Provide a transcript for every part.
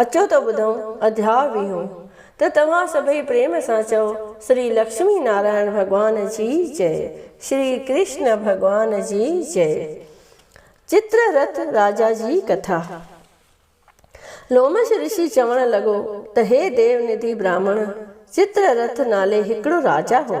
اچو ته ٻڌون اڌياء ويهون. ته توهان سڀئي پريم سان چئو، شري لڪشمي نارائڻ ڀڳوان جي جئه، شري ڪرشن ڀڳوان جي جئه. چتر رٿ راجا جي ڪٿا. لومش رشي چوڻ لڳو ته هي ديو نڌي براهمڻ، چتر رٿ نالي هڪڙو راجا هو.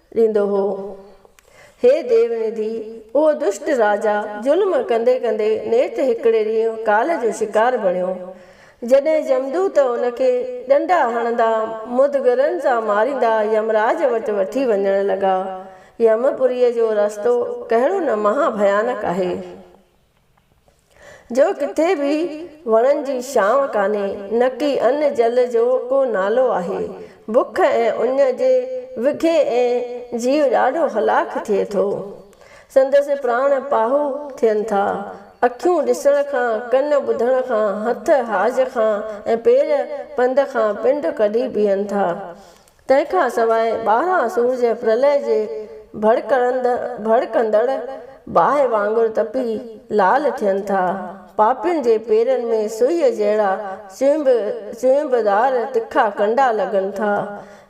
ڏيندو هو. هي ديوندي، اهو دشٽ راجا ظلم ڪندي ڪندي نيٺ هڪڙي ڏينهن ڪال جو شڪار بڻيو. جڏهن يمدوت ان کي ڏنڊا هڻندا، مدگرن سان ماريندا يمراج وٽ وٺي وڃڻ لڳا. يم پوريء جو رستو ڪهڙو نه مها ڀيانڪ آهي. جو ڪٿي به وڻن جي ڇانو ڪانهي، نڪي ان جل جو ڪو نالو آهي. بک ۽ اڃ جي وگهي ۽ جيو ڏاڍو هلاڪ ٿئي ٿو. سندس پراڻ پاهو ٿين ٿا. اکيون ڏسڻ کان، ڪن ٻڌڻ کان، هٿ حاج کان ۽ پير پنڌ کان پنڊ ڪڍي بيهن ٿا. تنهن کان سواء ٻاهران سورج پرلئه جي ڀڙڪندڙ باهه وانگر تپي لال ٿين ٿا. پاپين جي پيرن ۾ سوئيء جهڙا چوئنبدار تکا ڪنڊا لڳن ٿا.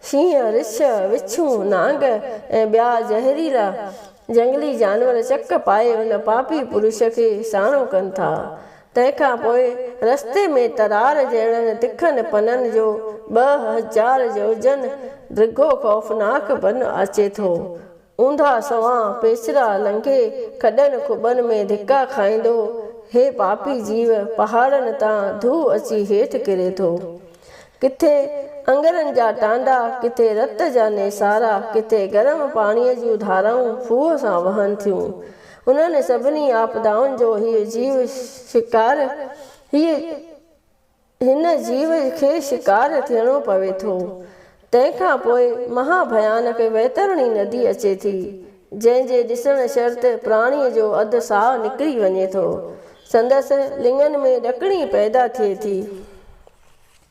شينهن، رڇ، وڇون، نانگ ۽ ٻيا زهريلا جهنگلي جانور چڪ پائي ان پاپي پرش کي ساڻو ڪن ٿا. تنهن کان پوء رستي ۾ ترار جهڙن تکن پنن جو ٻه هزار جوجن ڊگهو خوفناڪ بن اچي ٿو. اونڌا سنئون پيچرا لنگهي کڏن کٻن ۾ ڌڪا کائيندو هي پاپي جيو پهاڙن تان ڌو اچي هيٺ ڪري ٿو. ڪٿي اڱرن جا ٽانڊا، ڪٿي رت جا نيسارا، ڪٿي گرم پاڻيء جون ڌارائون ڦوهه سان وهن ٿيون. انهن سڀني آپدائن جو هيء جيو شڪار هي هن جيو کي شڪار ٿيڻو پوي ٿو. تنهن کان پوء مها ڀيانڪ ويترڻي ندي اچي ٿي، جنهن جي ڏسڻ شرط پراڻيء جو اڌ ساهه نڪري وڃي ٿو. سندس لڱن ۾ ڏڪڻي پيدا ٿئي ٿي.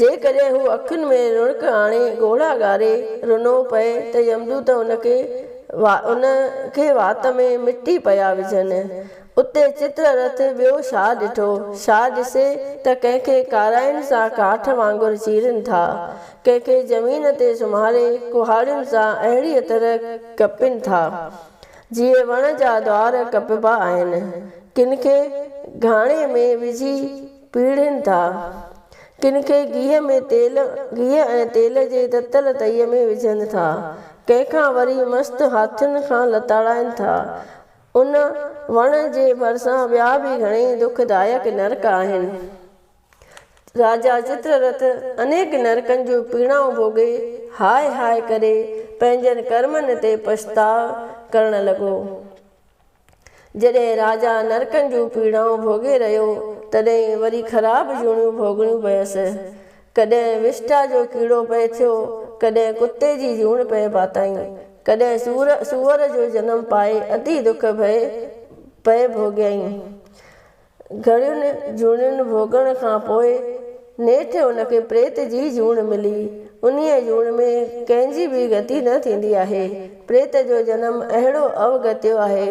جيڪڏهن هو اکين ۾ رونق آڻي ڳوڙها ڳاري رنو پئي ته يمدوت ان کي ان کي وات ۾ مٽي پيا وجهن. اتي چتر رٿ ٻيو شاهه ڏٺو. شاهه ڏسي ته ڪنهن کي ڪارائين سان ڪاٺ وانگر چيرين ٿا. ڪنهن کي زمين تي سمهاري ڪهاڙين سان اهڙيء طرح ڪپين ٿا، جيئن وڻ جا دوار ڪپبا آهن. ڪن کي گهاڻي ۾ وجهي. پيڙهين ٿا. ڪن کي گيهه ۾ تيل گيهه ۽ تيل جي تتل تئي ۾ وجهن ٿا. ڪنهن کان وري مست هاٿين کان لتاڙائين ٿا. ان وڻ جي ڀرسان ٻيا به گهڻيئي دک دائڪ نرڪ آهن. راجا چتررٿ انيڪ نرڪن جون پيڙائون ڀوڳي هاء هاء ڪري پنهنجن ڪرمن تي پڇتاء ڪرڻ لڳو. جڏهن راجا نرڪن جون پيڙائون ڀوڳي رهيو، تڏهن وري خراب جوڻيون ڀوڳڻيون پيس. ڪڏهن وشٽا جو ڪيڙو پئي ٿيو، ڪڏهن ڪتي جي جوڻ پئي پاتائين، ڪڏهن سور سوئر جو جنم پائي ادي دک ڀئي پئي ڀوڳيائين. گهڻين جوڻين ڀوڳڻ کان پوء نيٺ ان کي پريت جي جوڻ ملي. انهيء جوڻ ۾ ڪنهن جي به گتي نه ٿيندي آهي. پريت جو جنم اهڙو اوگتيو آهي.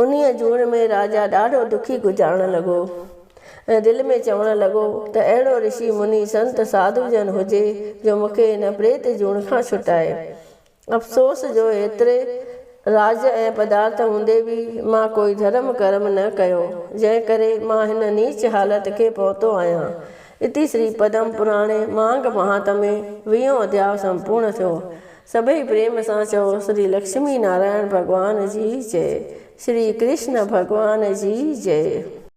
انهيء جوڻ ۾ راجا ڏاڍو دکي گذارڻ لڳو ۽ دل ۾ چوڻ لڳو ته اهڙو رشي مني سنت ساڌو جن هجي جو مون کي هن پريت جوڻ کان ڇٽائي. افسوس جو ايتري راج ۽ پدارٿ هوندي به مان ڪوئي ڌرم ڪرم نه ڪيو، جنهن ڪري مان هن نيچ حالت کي پهتو آهيان. اتي شري پدم پراڻي مانگ مهانت ۾ ويهون اڌياء سمپورڻ ٿيو. سڀئي پريم سان چئو شري لڪشمي نارائڻ ڀڳوان جي جئي. شري ڪرشن ڀڳوان جي جئي.